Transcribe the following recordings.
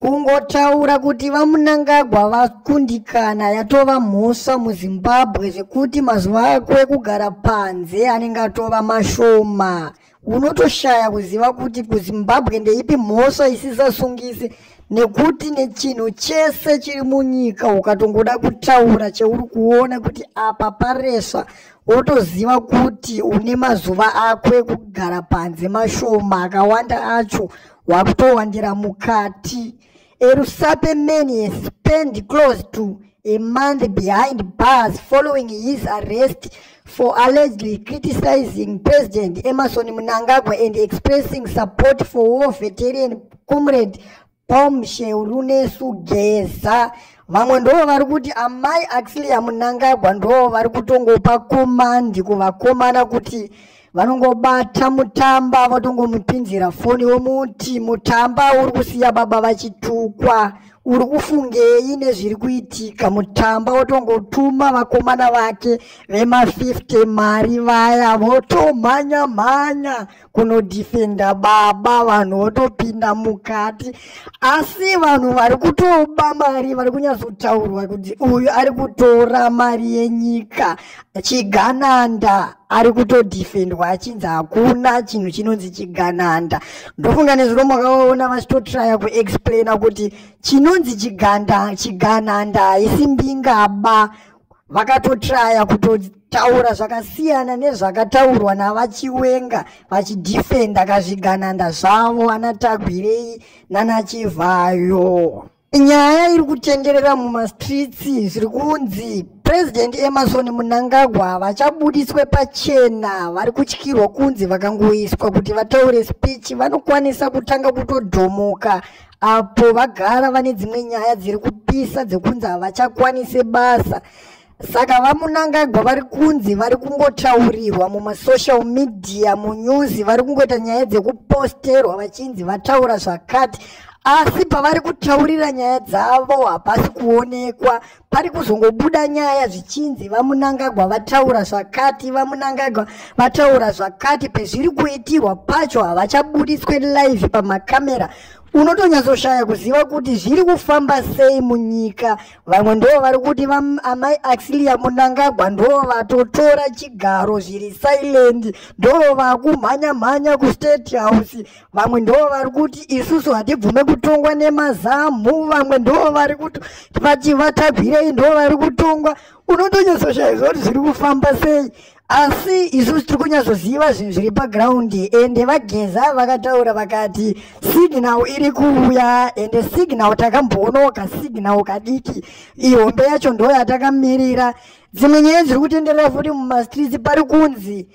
Kungotaura kuti vamunangagwa vakundikana yatova mhosva muzimbabwe zvekuti mazuva ako ekugara panze anenge atova mashoma unotoshaya kuziva kuti kuzimbabwe ndeipi mhosva isisasungisi nekuti nechinhu chese chiri munyika ukatongoda kutaura cheuri kuona kuti apa paresva wotoziva kuti une mazuva ako ekugara panze mashoma akawanda acho wakutowandira mukati erusape man he spend close to a month behind bars following his arrest for allegedly criticizing president emerson mnangagwa and expressing support for war veterian comrade pom sheurunesu geza vamwe ndoo vari kuti amai axilia mnangagwa ndoo vari kutongopa komandi kuvakomana kuti vanongobata mutamba votongomupinzira foni vomuti mutamba uri kusiya baba vachitukwa uri kufungei nezviri kuitika mutamba wotongotuma vakomana vake vema50 mari vaya votomhanya mhanya kunodhifenda baba vanhu votopinda mukati asi vanhu vari kutoba mari vari kunyatsotaurwa kuti uyu ari kutora mari yenyika chigananda ari kutodefendwa achinzi hakuna chinhu chinonzi chigananda ndofunga nezuro makaona vachitotraya kuexplaina kuti chinonzi chiganda chigananda haisi mbingaba vakatotraya kutotaura zvakasiyana nezvakataurwa navachiwenga vachidefenda kazvigananda zvavo ana tagwirei nana chivhayo Nyaya iri kutenderera mumastreets zviri kunzi President Emerson Mnangagwa havachabudiswe pachena vari kutyirwa kunzi vakangoiswa kuti vataure speech vanokwanisa kutanga kutodhomoka apo vagara vane dzimwe nyaya dziri kupisa dzekunzi havachakwanise basa saka vamunangagwa vari kunzi vari kungotaurirwa mumasocial media munyuzi vari kungoita nyaya dzekuposterwa vachinzi vataura zvakati asi pavari kutaurira nyaya dzavo hapasi kuonekwa pari kuzongobuda nyaya zvichinzi vamunangagwa vataura zvakati vamunangagwa vataura zvakati pezviri kuitirwa pacho havachabuditswe live pamakamera unotonyatsoshaya kuziva kuti zviri kufamba sei munyika vamwe ndoo vari kuti amai axilia munangagwa ndoo vatotora chigaro zviri silent ndoo vakumhanya mhanya kustate house vamwe ndoo vari kuti isusu hatibvume kutongwa nemazamu vamwe ndoo vari kuti vati vatagwirei ndoo vari kutongwa unotonyatsoshaiza kuti zviri kufamba sei asi isu tiri kunyatsoziva zvinhu zviri paground ende vageza vakataura vakati signal iri kuuya ende signal takamboonawo kasignal kadiki ihombe yacho ndo yatakamirira dzimwe nyaya dziri kutenderera futi mumastreets pari kunzi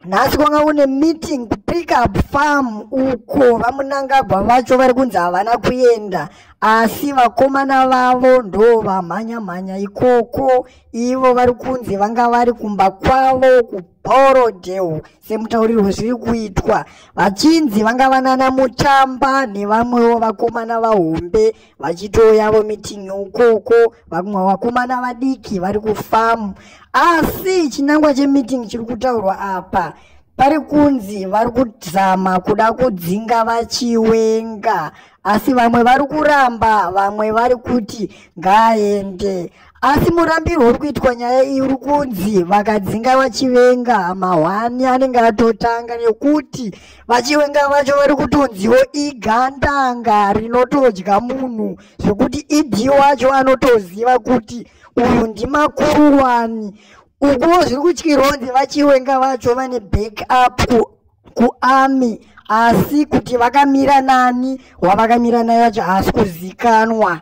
nhasi kwanga kune meeting kupick up farm uko vamunangagwa vacho vari kunzi havana kuenda asi vakomana vavo ndo vamhanya mhanya ikoko ivo vari kunzi vanga vari kumba kwavo kubhorodhewo semutaurirwo zviri kuitwa vachinzi vanga vanana mutamba nevamwewo vakomana vahombe vachitoyavo mitingi ukoko vamwe vakomana vadiki vari kufamu asi chinangwa chemitingi chiri kutaurwa apa pari kunzi vari kuzama kuda kudzinga vachiwenga asi vamwe vari kuramba vamwe vari kuti ngaaende Asi murambirwo uri kuitwa nyaya iyi uri kunzi vakadzinga vachivenga mahwani anenge atotanga nekuti vachivenga vacho vari kutonziwo igandanga rinotodya munhu zvekuti idi wacho anotoziva kuti uyu ndimakuruwani ukuwo zviri kutyirwa kunzi vachivenga vacho vane back up kuarmy ku asi kuti vakamira nani wavakamira naye vacho haasi kuzikanwa